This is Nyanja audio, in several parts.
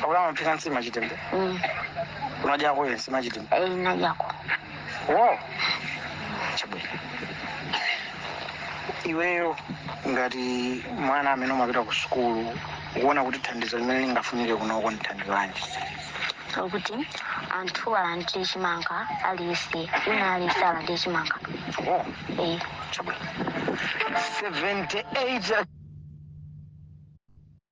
Pakuti amaphika nsima ya chitedze. Mm. Unadyako iwe nsima ya chitedze. Eh, ndadyako. Wow. Chabwino. Iweyo ngati mwana amene umapita ku sukulu ukuona kuti thandizo limene lingafunike kunoko ndi thandizo lanji. Pakuti anthu alandire chimanga aliyense. Ina aliyense alandire chimanga. Wow. Eh. Chabwino. 78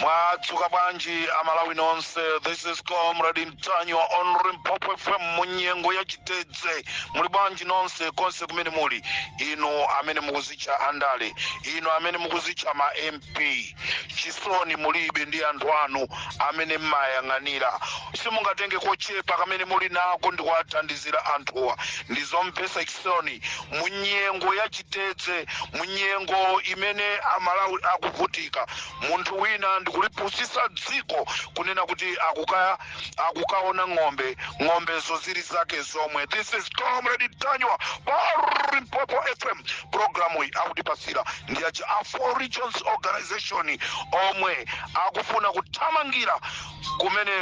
mwadzuka bwanji amalawi nonse this is comrade mtanyiwa on limpopo fm munyengo ya chitedze muli bwanji nonse konse kumene muli inu amene mukuzitcha andale inu amene mukuzitcha ma mp mp chisoni mulibe ndi anthu anu amene mmayang'anira simungatenge kochepa kamene muli nako ndi kuwathandizira anthuwa ndi zomvetsa chisoni mu nyengo ya chitedze mu nyengo imene amalawi akuvutika munthu wina ndikulipusitsa dziko kunena kuti akuka akukaona ng'ombe ng'ombezo zili zake zomwe this is comrade mtanyiwa pa limpopo fm programu iyi akutipatsira ndi aja a four regions organization omwe akufuna kuthamangira kumene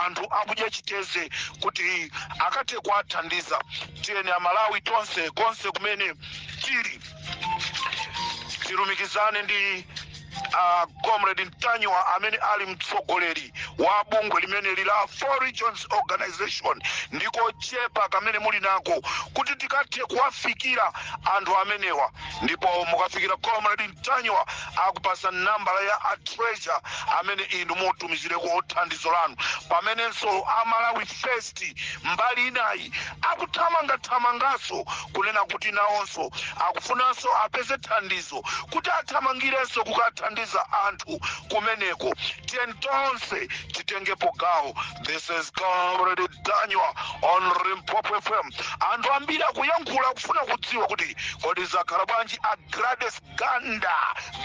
anthu akudya chitedze kuti akathe kuwathandiza tiyeni amalawi tonse konse kumene tili tilumikizane ndi comrade mtanyiwa amene ali mtsogoleri wa bungwe limeneli la four regions organization ndi kochepa kamene muli nako kuti tikathe kuwafikira anthu amenewa ndipo mukafikira comrade mtanyiwa akupatsa nambala ya a treasurer amene inu mutumizireko thandizo lanu pamenenso amalawi first Moti mbali inayi akuthamangathamanganso kunena kuti nawonso akufunanso apeze thandizo kuti athamangirenso kukathandiza anthu kumeneko. Tiyeni tonse titengepo gawo. This is Comrade Mtanyiwa on Limpopo FM. Anthu ambiri akuyankhula akufuna kudziwa kuti kodi zakhala bwanji a Gladys Ganda.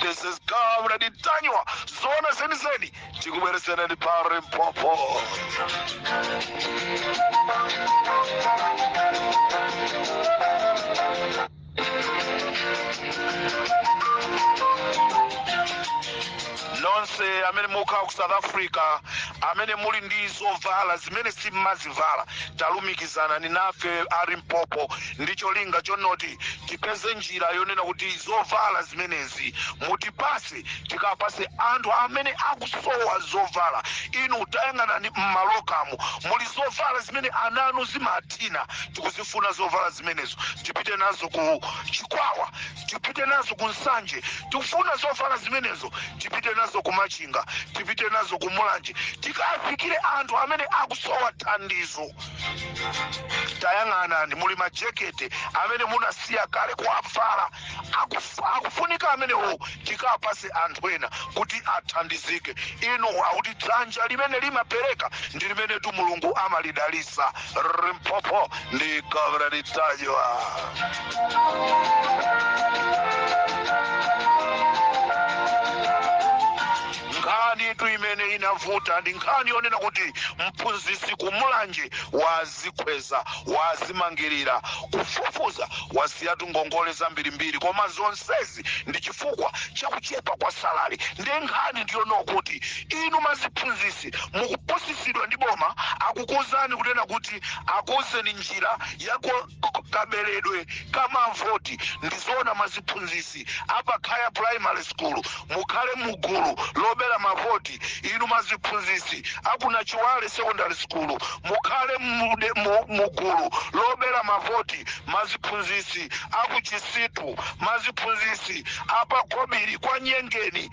This is Comrade Mtanyiwa. Zoona zenizeni. tikubweretserani ndi pa limpopo nonse amene mukhala ku south africa amene muli ndi zovala zimene simmazivala talumikizanani nafe a limpopo ndi cholinga chonoti tipeze njira yonena kuti zovala zimenezi mutipatse tikapase anthu amene akusowa zovala inu tayang'anani mmalokamo muli zovala zimene ana anu zimathina tikuzifuna zovala zimenezo tipite nazo ku chikwawa tipite nazo ku nsanje tikufuna zovala zimenezo tipite nazo ku machinga tipite nazo ku mulanje tikafikire anthu amene akusowa thandizo tayang'anani muli majekete amene munasiya kale kuwavala Akufu- akufunika amenewo tikapase anthu ena kuti athandizike inu akuti dzanja limene limapereka ndi limenetu mulungu amalidalisa limpopo ndi gavranitsayoa nkhanitu imene inavuta ndi nkhani yonena kuti mphunzitsi kumulanje wa wazikhweza wazimangilira kufufuza wasiyatu ngongole zambirimbiri koma zonsezi ndi chifukwa cha kuchepa kwa salary nde nkhani ndiyonena kuti inu maziphunzisi mukupusisidwa ndi boma akukuuzani kunena kuti akuuzeni njira yakaberedwe kamavoti ndizoona maziphunzisi apa khaya primary school mukhale mugulu lobera mavoti inu maziphunzitsi aku nachiwale secondary school mukhale mude- mu- mugulu lobera mavoti maziphunzitsi akuchisitu maziphunzitsi apa khobiri kwa nyengeni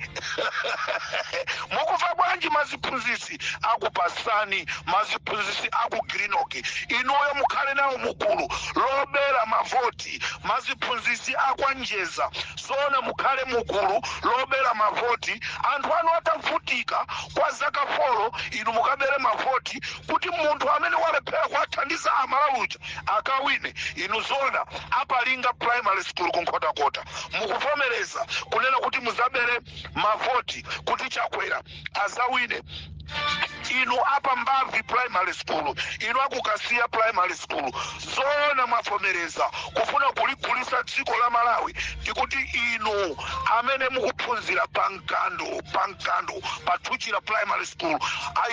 mukumva bwanji maziphunzitsi aku pasani maziphunzitsi aku grinoki inuyo mukhale nawo mugulu lobera mavoti maziphunzisi akwa njeza zoona mukhale mugulu lobela mavoti anthu anu atavutika kwa zaka folo inu mukabere mavoti kuti munthu amene walephera kuwathandiza amalawi uja akawine inu zoona apalinga primary school kunkhotakota mukuvomereza kunena kuti muzabere mavoti kuti chakwera azawine inu apa mbavi primary school inu akukasiya primary school zoona mwavomereza kufuna kuligulisa dziko la malawi ndikuti inu amene mukuphunzira pa mkando pa mkando pa thuchira primary school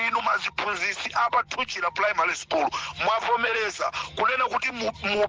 inu maziphunzisi apa thuchira primary school mwavomereza kunena kuti mu, mu,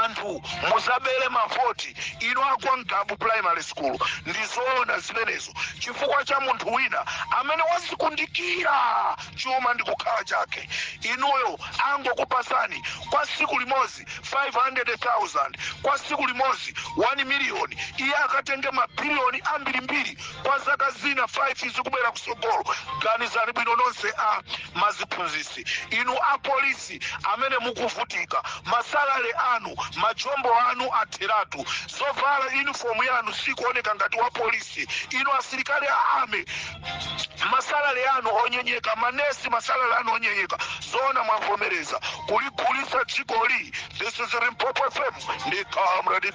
anthu muzabele mavoti inu akwa ngabu primary school ndizoona zimenezo chifukwa cha munthu wina amene wazikundikira chuma ndi kukhala chake inuyo angokupasani kwa siku limozi 500000 kwa siku limozi 1 miliyoni iye akatenge mabiliyoni ambirimbiri kwa zaka zina 5 zikubwera kusogolo ganizani bwino nonse a maziphunzisi inu apolisi nonse amene mukuvutika masalale anu ma jombo anu atheratu zovala uniform yanu sikuoneka ngati wa polisi inu asilikali a army masalale anu onyenyeka manesi masalale anu onyenyeka zoona mwavomereza kuligulitsa dzikoli this is Limpopo FM ndi comrade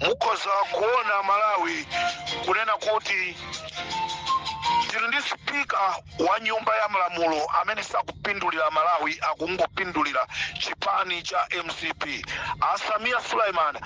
mukhoza kuona malawi kunena kuti tili ndi spika wa nyumba ya malamulo amene sakupindulira malawi akungopindulira chipani cha mcp a Samiya Suleiman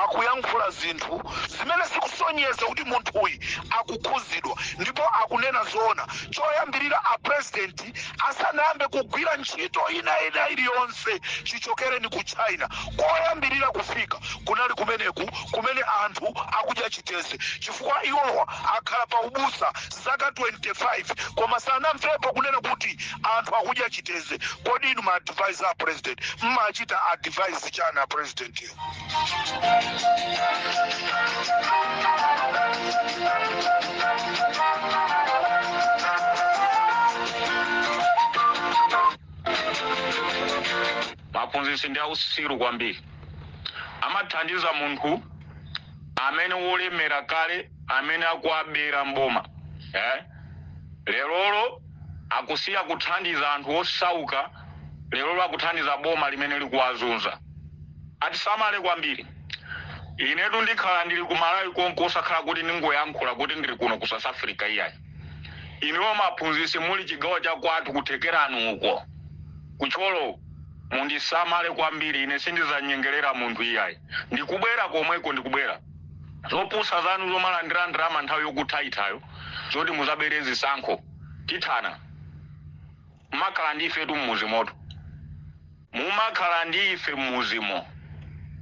akuyankhula zinthu zimene zikusonyeza kuti munthuyi akukhuzidwa ndipo akunena zoona choyambirira a president asanayambe kugwira ntchito ina ina iliyonse chichokereni ku china koyambirira kufika kunali kumeneku kumene anthu akudya chiteze chifukwa iwowa akhala pa ubusa zaka 25 koma sanamvepo kunena kuti anthu akudya chiteze kodi inu ma adviser a president mmachita advise chani a president yo Maphunzitsi ndi ausiru kwambiri. Amathandiza munthu amene wolemera kale amene akuwabera mboma eh? Lerolo akusiya kuthandiza anthu osauka, lerolo akuthandiza boma limene likuwazunza. Atisamale kwambiri. Inetu ndikhala ndili ku Malawi konko osakhala kuti ndingoyankhula kuti ndili kuno ku South Africa iyayi. Inuyo maphunzitsi muli chigawo cha kwathu ku Thekerani uko. ku Thyolo. Mundisamale kwambiri ine sindizanyengelera munthu iyayi. Ndikubwera komweko ndikubwera. Zopusa zanu zomalandira ndalama nthawi yokuthaithayo zoti muzabere zisankho tithana. Mumakhala ndi ifetu mmuzimotu. Mumakhala ndi ife mmuzimo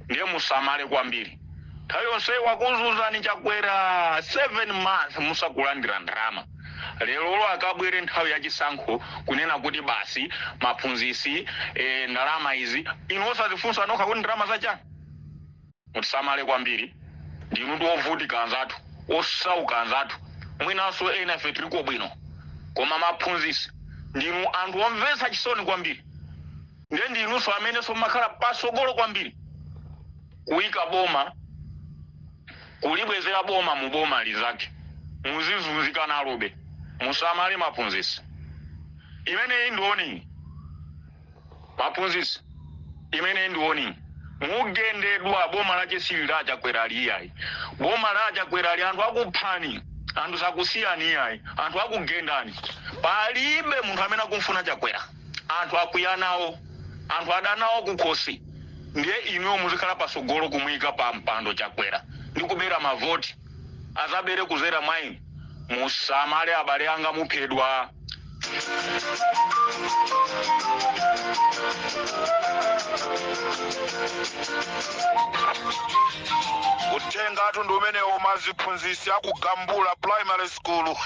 ndiye musamale kwambiri. Nthawi yonseyi wakuzunzani Chakwera 7 month musakulandira ndalama. lero olo akabwere nthawi ya chisankho kunena kuti basi maphunzitsi eh, ndalama izi inu osazifunsa nokha kuti ndalama zachani mutisamale kwambiri ndinu ndi ovutika anzathu osauka anzathu mwinanso ena ife tiliko bwino koma maphunzitsi ndinu anthu omvetsa chisoni kwambiri nde ndinunso amenenso mmakhala pasogolo kwambiri kuika boma kulibwezera boma mu boma lizake muzizunzika nalobe musamale maphunzitsi imeneyi ndi warning maphunzitsi imeneyi ndi warning mugendedwa boma lache sili la chakwerali iyayi boma la chakwerali anthu akuphani anthu sakusiyani iyayi anthu akugendani palibe munthu amene akumfuna chakwera anthu akwiya nawo anthu adanawo kukhosi ndiye inuyo muzikhala pasogolo kumuyika pa mpando chakwera ndi kubera mavoti azabere kuzera mwa inu musamale abale anga muphedwa uthengatu ndi umenewo maziphunzisi aku Gambula primary school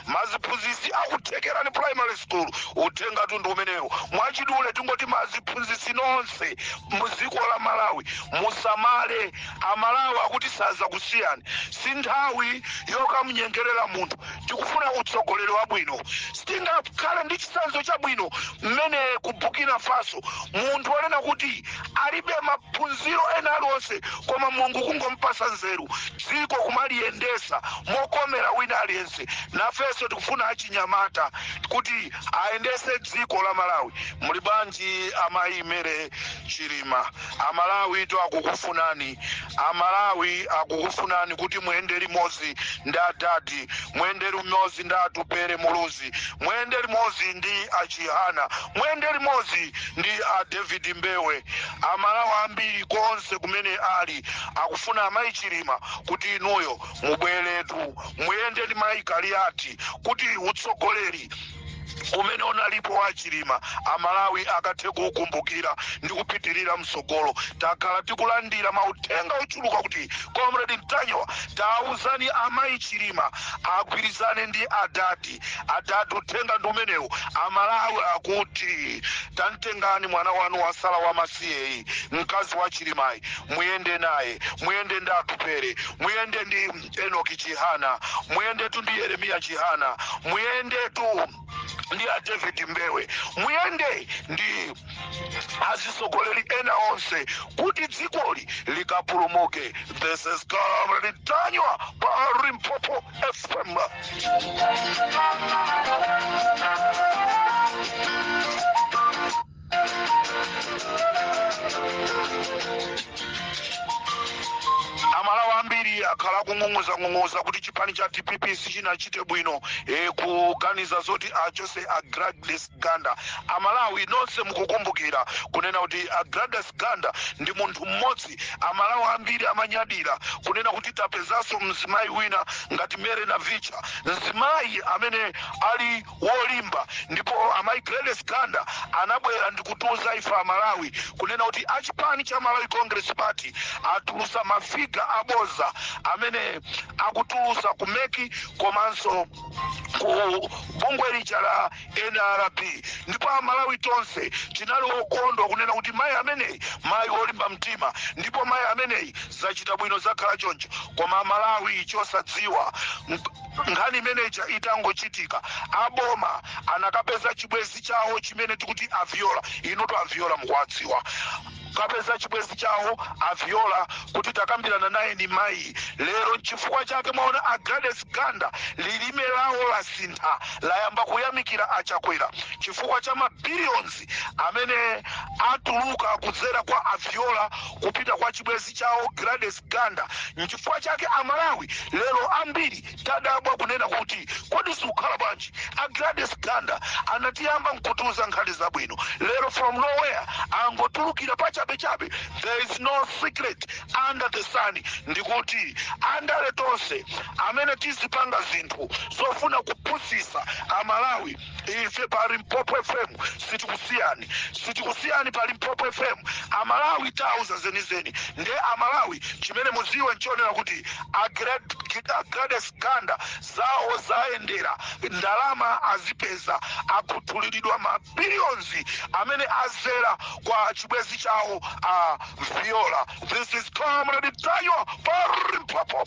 maziphunzitsi aku Thekerani primary school uthengatu ndi umenewu mwachidule tingoti maziphunzitsi nonse muziko la malawi musamale amalawi akuti sazakusiyani si nthawi yokamunyengerera munthu tikufuna utsogoleri wabwino sitingakhale ndi chisanzo chabwino mmene ku burkina faso munthu onena kuti alibe maphunziro ena aliwonse koma mulungu kungompasa nzeru dziko kumaliyendesa mokomera wina aliyense nafenso tikufuna achinyamata kuti ayendese dziko la malawi muli bwanji amayi Mary Chilima amalawitu akukufunani amalawi akukufunani kuti muyende limodzi ndi adadi muyende limodzi ndi atupere muluzi muyende limodzi ndi achihana muyende limodzi ndi a David Mbewe amalawi ambiri konse kumene ali akufuna amayi Chilima kuti inuyo mubweretu muyende ndi mayi Kaliati kuti utsogoleri umene unalipo wa Chilima amalawi akathe kuukumbukira ndi kupitirira mtsogolo takhala tikulandira mauthenga ochuluka kuti comrade Ntanyiwa tauzani amayi Chilima agwirizane ndi adadi adadi uthenga ndi umenewu amalawi akuti tamtengani mwana wanu wasala wamasiyeyi mkazi wa chilimayi muyende naye muyende ndi atupere muyende ndi enoki chihana muyendetu ndi yeremiya chihana muyendetu ndi a david mbewe muyende ndi azitsogoleri ena onse kuti dzikoli likapulumuke this is comrade Ntanyiwa pa Limpopo FM amalawi ambiri akhala akung'ung'uzang'ung'uza kuti chipani cha dpp sichinachite bwino e, kuganiza zoti achose a Gladys Ganda. A Malawi nonse mukukumbukira kunena kuti a Gladys Ganda ndi munthu mmodzi a Malawi ambiri amanyadira kunena kuti tapezanso mzimayi wina ngati Mary Navicha. Mzimayi amene ali wolimba ndipo amayi Gladys Ganda anabwera ndikutiuza ife a Malawi kunena kuti a chipani cha Malawi Congress Party atulusa ma figa aboza amene akutulusa ku meki komanso ku bungwe lija la Nrb ndipo a Malawi tonse tinali okondwa kunena kuti mayi ameneyi mayi olimba mtima ndipo mayi ameneyi zachita bwino zakhala choncho koma a Malawi chosadziwa nkhani imene ija itangochitika a boma anakapeza chibwenzi chawo chimene tikuti a Viola inutu a Viola mukuwadziwa kapeza chibwenzi chawo aviola kuti takambiranani nayeni mayi lero nchifukwa chake mwaona a gladys ganda lilime lawo lasintha layamba kuyamikira a Chakwera chifukwa cha mabiliyonzi amene atuluka kudzera kwa aviola kupita kwa chibwenzi chawo gladys ganda nchifukwa chake amalawi lero ambiri tadabwa kunena kuti kodi zikukhala bwanji a gladys ganda sanatiyambe nkutiuza nkhani zabwino lero from nowhere angotulukira pachabechabe there is no secret under the sun ndikuti andale tonse amene muzipanga zinthu zofuna kupusitsa amalawi ife pa limpopo fm sitikusiyani sitikusiyani pa limpopo fm amalawi tiwauza zenizeni nde amalawi chimene mudziwe nchonena kuti a gladys ganda zawo zayendera ndalama azipeza akhuthuliridwa mabiliyonzi amene adzera kwa chibwenzi chawo a viola this is comrade tayo pa limpopo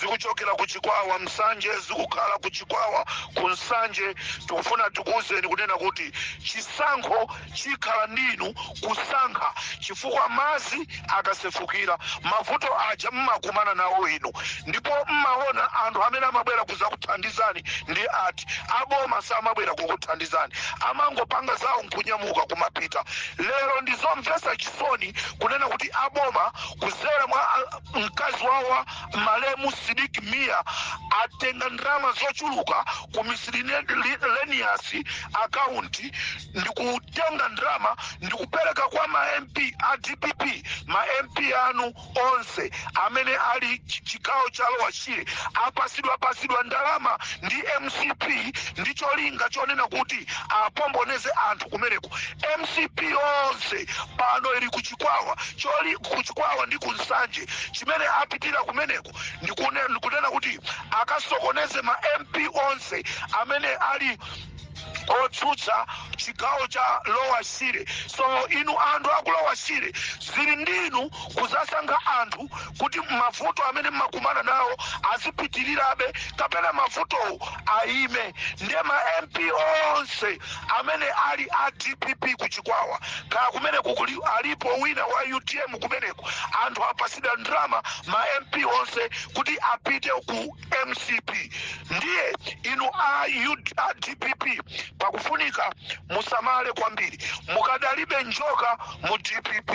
zikuchokera ku chikwawa nsanje zikukhala ku chikwawa ku nsanje tikufuna tikuwuzeni kunena kuti chisankho chikhala ndinu kusankha chifukwa madzi akasefukira mavuto aja mumakumana nawo inu ndipo mumaona anthu amene amabwera kudzakuthandizani ndi ati aboma samabwera kukuthandizani amangopanga zawo nkunyamuka kumapita lero ndizomvetsa chisoni kunena kuti aboma kudzera mwa mkazi wa malemu sidik mia atenga ndalama zochuluka ku miscellaneous account ndi kutenga ndalama ndi kupereka kwa ma mp a dpp ma mp anu onse amene ali chigawo cha lower shire apatsidwapatsidwa ndalama ndi mcp ndi cholinga chonena kuti apomboneze anthu kumeneko mcp onse pano ili kuchi chikwawa choli kuchikwawa ndi ku nsanje chimene apitira kumeneko ndikunena kuti akasokoneze ma mp onse amene ali otsutsa chigawo cha lower shire so inu anthu aku lower shire zili ndinu kudzasankha anthu kuti mavuto amene mumakumana nawo azipitirirabe kapena mavuto ayime ndiye ma mp onse amene ali a dpp ku chikwawa kaya kumeneko kuli alipo wina wa utm kumeneko anthu apasidwa ndalama ma mp onse kuti apite ku mcp ndiye inu a, U, a dpp pakufunika musamale kwambiri mukadalibe njoka mu dpp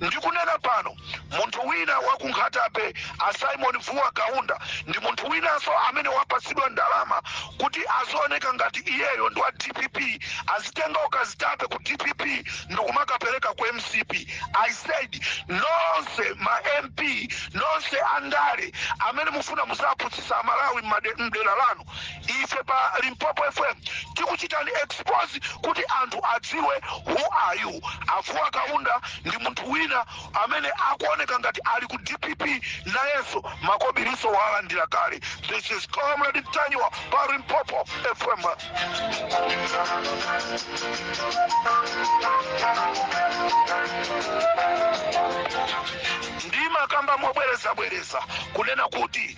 ndikunena pano munthu wina wa ku nkhata bay a simon vuwa kaunda ndi munthu winanso amene wapatsidwa ndalama kuti azioneka ngati iyeyo ndi wa dpp azitenga ukazitape ku dpp ndikumakapereka ku mcp i said nonse ma mp nonse andale amene mufuna muzapusitsa amalawi m'made- m'dera lanu ife pa limpopo fm tikuchitani expose kuti anthu adziwe who are you avuwa kaunda ndi munthu wina amene akuoneka ngati ali ku dpp nayenso makobiliso walandira kale this is comrade ntanyiwa pa limpopo fm ndimakamba mobwerezabwereza kunena kuti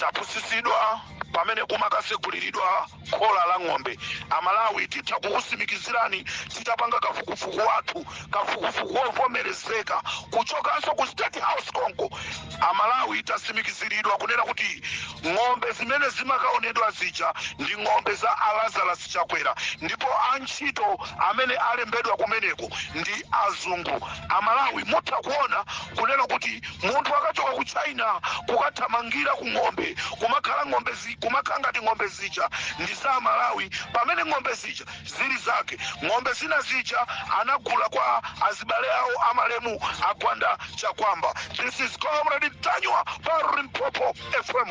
tapusitsidwa pamene kumakatseguliridwa khola la ng'ombe amalawi titha kukusimikizirani titapanga kafukufuku wathu kafukufuku wovomerezeka kuchokanso ku state house konko amalawi tasimikiziridwa kunena kuti ng'ombe zimene zimakaonedwa zija ndi ng'ombe za alazarus chakwera ndipo antchito amene alembedwa kumeneko ndi azungu amalawi mutha kuona kunena kuti Munthu akachoka ku China kukathamangira ku ng'ombe kumakhala ng'ombe zi, kumakhala ngati ng'ombe zija ndi za Malawi pamene ng'ombe zija zili zake. Ng'ombe zina zija anagula kwa azibale awo a malemu a Gwanda Chakwamba. This is Comrade Ntanyiwa pa Limpopo FM.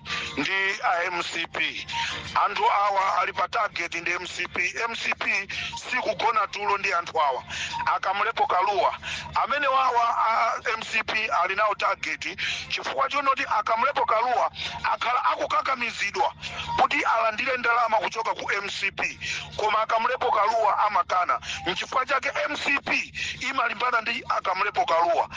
ndi a mcp anthu awa ali pa target ndi mcp mcp sikugona tulo ndi anthu awa akamlepo kaluwa amenewawa a mcp ali nawo target chifukwa chonoti akamlepo kaluwa akhala akukakamizidwa kuti alandire ndalama kuchoka ku mcp Koma a Kamlepo Kalua amakana. Nchifukwa chake mcp imalimbana ndi a Kamlepo Kalua.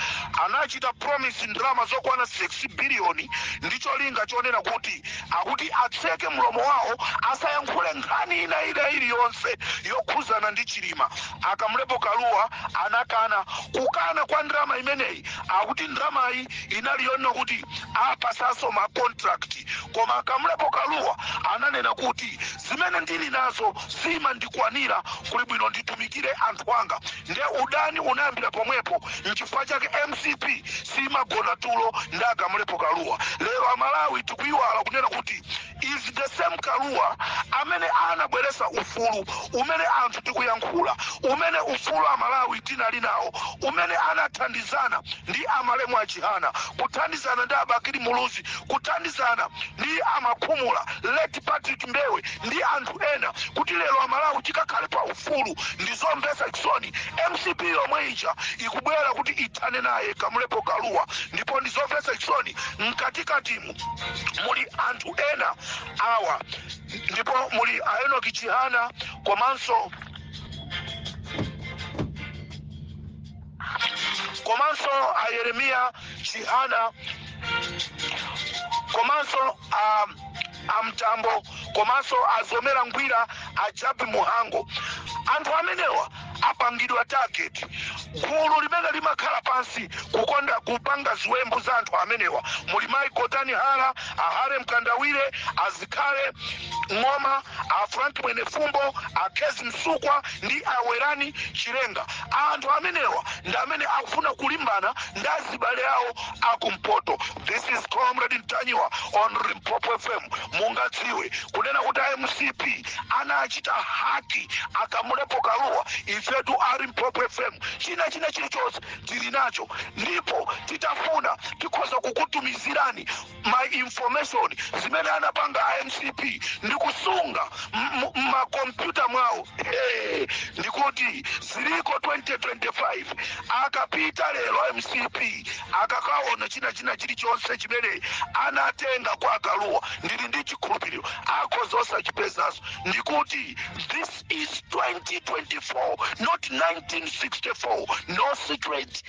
Anachita promise ndalama zokwana 6 billion ndi cholinga chonena kuti akuti atseke mlomo wawo asayankhule nkhani ina ina iliyonse yokhuzana ndi Chilima. A Kamlepo Kalua anakana. Kukana kwa ndalama imeneyi akuti ndalamayi inali yonena kuti awapatsanso ma contract. Koma a Kamlepo Kalua ananena kuti zimene ndili nazo zimandikwanira, kuli bwino nditumikire anthu anga. Nde udani unayambira pomwepo, nchifukwa chake mcp simagona tulo ndi a Kamulepo Kalua. Lero a Malawi tikuiwala kunena kuti it's the same Kalua amene anabweresa ufulu umene anthu tikuyankhula, umene ufulu a Malawi tinali nawo, umene anathandizana ndi a malemu a Chihana, kuthandizana ndi a Bakili Muluzi kuthandizana ndi a makhumula late patrick mbewe ndi anthu ena kuti lero amalawi tikakhale pa ufulu ndi zomvetsa chisoni mcp yomwe ija ikubwera kuti ithane naye kamulepo kaluwa ndipo ndi zomvetsa chisoni mkatikatimu muli anthu ena awa ndipo muli a enoki chihana komanso komanso a yeremiya chihana komanso a amtambo komanso a mzomera ngwira a japi mhango anthu amenewa apangidwa target gulu limene limakhala pansi kukonda kupanga ziwembu za anthu amenewa muli mayi gotani hara a harry mkandawire a zikhale ng'oma a Frank Mwenifumbo, a Kezi Msukwa ndi a Werani Chilenga. Anthu amenewa ndi amene akufuna kulimbana ndi azibale awo akumpoto. This is Comrade Ntanyiwa on Limpopo FM. Mungadziwe kunena kuti a MCP anachita hack a Kamulepo Kalua ifetu a Limpopo FM china china chilichonse tili nacho ndipo titafuna tikhoza kukutumizirani ma information zimene anapanga a mcp ndi kusunga mmakompyuta mwawo hey, ndikuti ziliko 2025 akapita lero a mcp akakaona china china chilichonse chimene anatenga kwa akaluwa ndili ndi chikhulupiriro akhoza osachipezanso ndikuti this is 2024 not 1964 no secret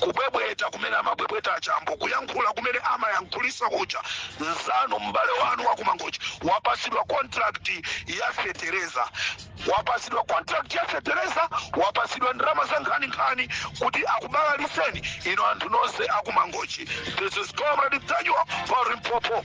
kubwebweta kumene amabwebweta achambo kuyankhula kumene amayankhulisa kuja nzanu m'bale wanu wakumangochi wapasidwa contract ya fetereza wapasidwa contract ya fetereza wapasidwa ndalama za nkhaninkhani kuti akubalaliseni inu anthu nonse akumangochi this is comrade ntanyiwa pa limpopo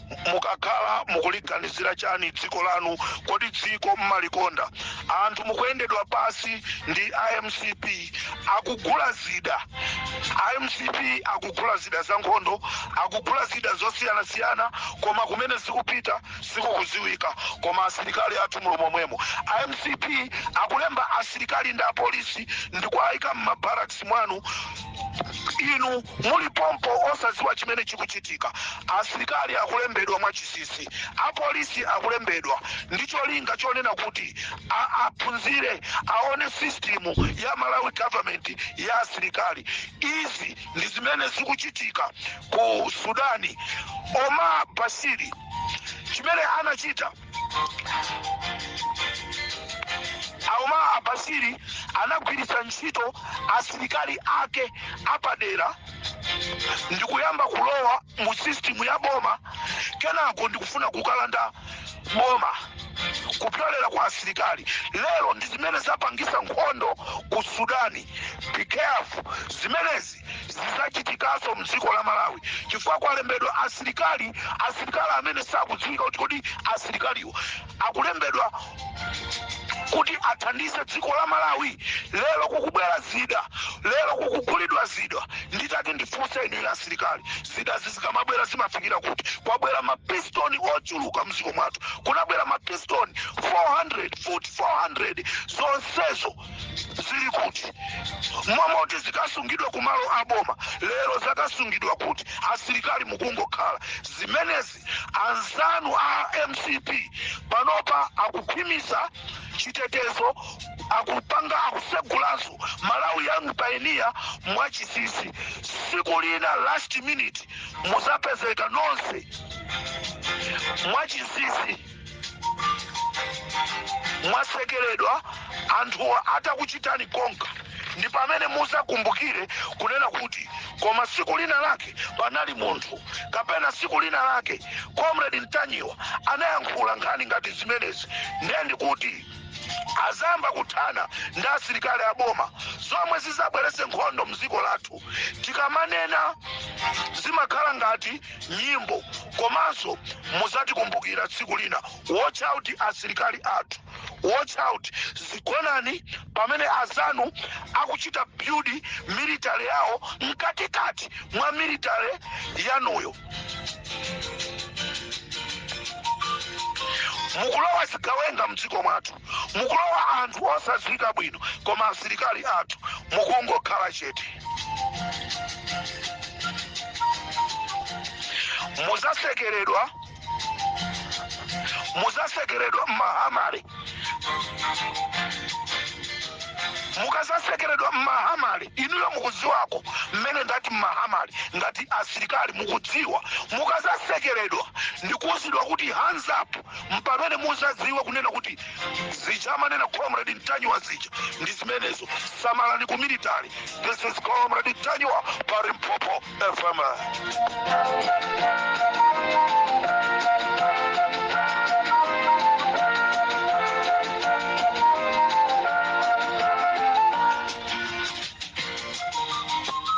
mukakhala mukuliganizira chani dziko lanu kodi dziko mmalikonda anthu mukuyendedwa pasi ndi amcp akugula zida amcp akugula zida za nkhondo akugula zida zosiyanasiyana koma kumene zikupita sikukuziwika koma asilikali athu mulomomwemo amcp akulemba asilikali ndi apolisi ndikuayika m'mabaraks mwanu inu muli pompo osadziwa chimene chikuchitika asilikali akulembedwa mwachisisi apolisi akulembedwa ndi cholinga chonena kuti a- aphunzire aone sistimu ya malawi government ya asilikali izi ndi zimene zikuchitika ku sudani omar bashiri chimene anachita Omar Bashiri anagwiritsa ntchito asilikali ake apadera ndikuyamba kulowa mu system ya boma kenako ndikufuna kukalanda boma kupyolera kwa asilikali lero ndi zimene zapangisa nkhondo ku sudani be careful zimenezi zizachitikaso mdziko la malawi chifukwa kwalembedwa asilikali asilikali amene sakudziwika kuti kodi asilikaliwo akulembedwa kuti athandize dziko la malawi lero kukubwera zida lero kukugulidwa zida nditati ndifunse inu ya asilikali zida zizikamabwera zimafikira kuti kwabwera mapistol ochuluka mdziko mwathu kunabwera mapistol 400 zonsezo zili kuti mmalo moti zikasungidwe ku malo a boma lero zakasungidwa kuti asilikali mukungokhala zimenezi anzanu a mcp panopa akukhwimisa chitetezo akupanga akusegulanso malawi young pioneer mwachisisi siku lina last minute muzapezeka nonse mwachisisi mwatsekeredwa anthu atakuchitani konka ndi pamene muzakumbukire kunena kuti koma siku lina lake panali munthu kapena siku lina lake comrade Ntanyiwa anayankhula nkhani ngati zimenezi ndiye ndikuti azamba kuthana ndi asilikali a boma zomwe zizabweretse nkhondo mdziko lathu tikamanena zimakhala ngati nyimbo komanso muzatikumbukira tsiku lina watch out asilikali athu watch out zigonani pamene azanu akuchita build military yawo mkatikati mwa military yanuyo mukulowa zigawenga mdziko mwathu mukulowa anthu osadziwika bwino koma asilikali athu mukungokhala chete muzasekeredwa muzasekeredwa mma armoury mukazasekeredwa mma armoury inuyo mukudziwako mmene ndati mma armoury ngati asilikali mukudziwa mukazasekeredwa ndikuuzidwa kuti hands up mpamene muzadziwe kunena kuti zija amanena comrade ntanyiwa zija ndi zimenezo samalani ku military this is comrade ntanyiwa pa limpopo fm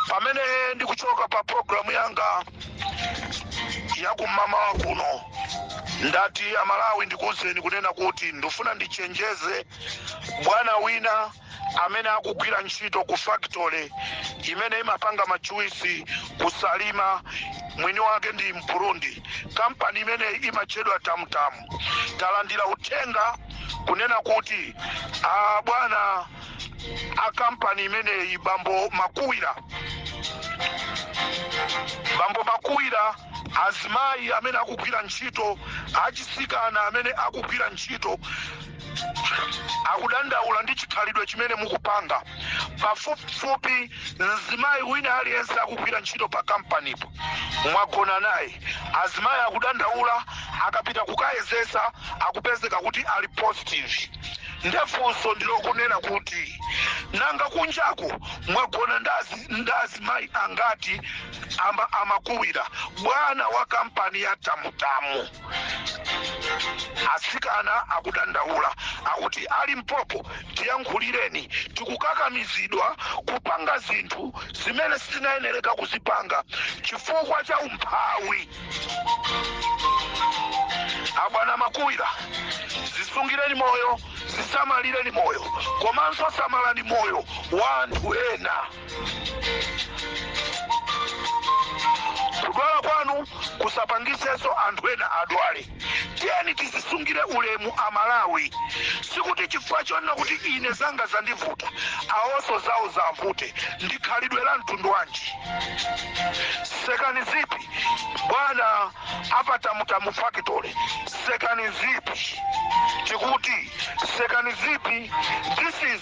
pamene ndikuchoka pa programu yanga yakum'mawa kuno ndati amalawi ndikuuzeni kunena kuti ndifuna ndichenjeze bwana wina amene akugwira ntchito ku factory imene imapanga majuwisi ku salima mwini wake ndi mburundi kampani imene imatchedwa tamutamu talandira uthenga kunena kuti a bwana a kampani imeneyi bambo makuwira bambo makuwira azimayi amene akugwira ntchito atsikana amene akugwira ntchito akudandaula ndi chikhalidwe chimene mukupanga pafupifupi mzimayi wina aliyense akugwira ntchito pa kampanipo mwagona naye azimayi akudandaula akapita kukayezesa akupezeka kuti ali positive nde funso ndilokunena kuti nanga kunjako mwagona ndazimayi angati aa, a makuwira bwana wa kampani ya tamutamu asikana akudandaula akuti a limpopo tiyankhulireni tikukakamizidwa kupanga zinthu zimene sitinayenereka kuzipanga chifukwa cha umphawi abwana makuwira zisungireni moyo zisamalireni moyo komanso samalani moyo wa anthu ena kudwala kwanu kusapangisenso anthu ena adwale tiyeni tizisungire ulemu amalawi sikuti chifukwa chonena kuti ine zanga zandivuta awonso zawo ziwavute ndi khalidwe la mtundu wanji sekani zipi bwana a pa tamutamu factory sekani zipi tikuti sekani zipi this is